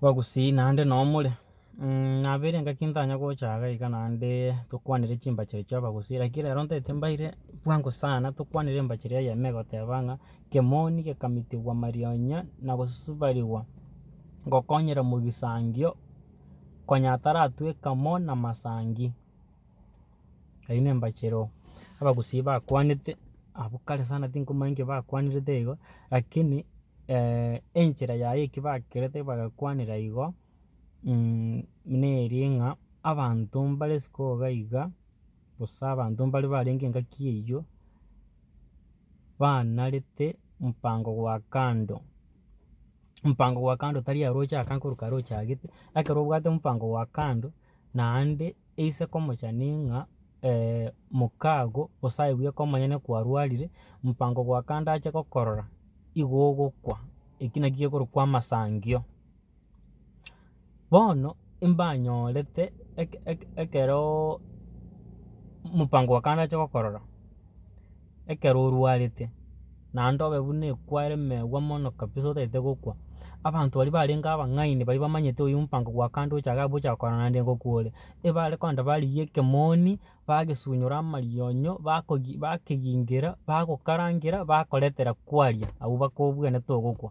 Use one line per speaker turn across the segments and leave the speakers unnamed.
Bagusii naende noo more, nabeire engaki ntanya gocha iga iga naende tokwanere chimbachari chia abagusii lakini rero ntaete mbaire bwango sana tokwanere embachera eyemo egoteba ng'a kemoni gekamitigwa marionya na gosusubarigwa gokonyera mogisangio konya ataratweka mo na masangi. Eyio nembachera oo, abagusii bakwanete abwo kare sana tinkomanya nki bakwanerete igo, rakini enchera yaye eki bakerete bagakwanera igo, neri ng'a abanto mbare isiko iga iga, gose abanto mbare barenge engaki eyio, banarete mopango gwa kando. Mopango gwa kando tari aroche akange korwa aroche agete, ekero obwate mopango gwa kando. Naende eise komochani ng'a mokago osaebwe ekero omonyene kwarwarire, mopango gwa kando ache gokorora, igo ogokwa, eki naki gekorokwa amasangio. Bono mbanyorete eke- eke- ekeroooo mopango bwa kando ache gokorora. ekero orwarete, naende obe buna ekware megwa mono kabisa otagete gokwa. Abanto baria barenge abang'aini baria bamanyete oyio omopango bwa kando ocha iga gocha korora naende nigo kwore, ebare kogenda barigia ekemoni, bagesunyora amarionyo, bakogi bakegingera, bagokarangera, bakoretera kwaria, abwo bakobwenerete ogokwa.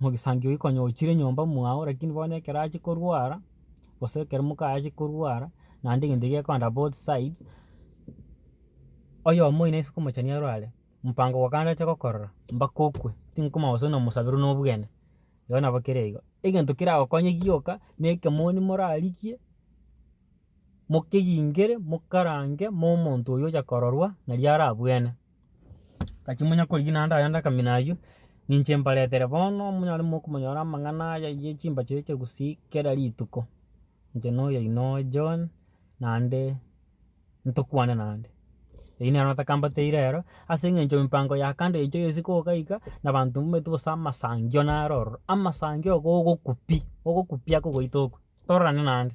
Mogisangio oyio konya ochire nyomba mwao lakini bono ekero achia korwara, gose ekero mokaye achia korwara, naende egento ekiya gekorenta both sides, oyomo oyo nase okomochani arware, mopango obo kande ache gokorora, mpaka okwe, tinkomanya gose nomosabera buna obogene, igo nabo kere igo. Egento keragokonye gioka, na ekemoni morarigie, mokegingere, mokarange, mo omonto oyio ocha kororwa, nari arabwene. Gachia monya korigia naende ayande akamina aywo, ninche mbaretere bono monyare mokomonyora amang'ana aya ye chimbacho ye chegusii kera rituko. Inche na oyoino oye John, naende ntokwane naende. Eyio nero natakambateire ero, ase eng'encho empango ya kando echo ya isiko iga iga, na abanto mbwenerete gose amasangio naro ororo, amasangio iga ogokwa pi, ogokwa pi akogoita okwo, tororane naende.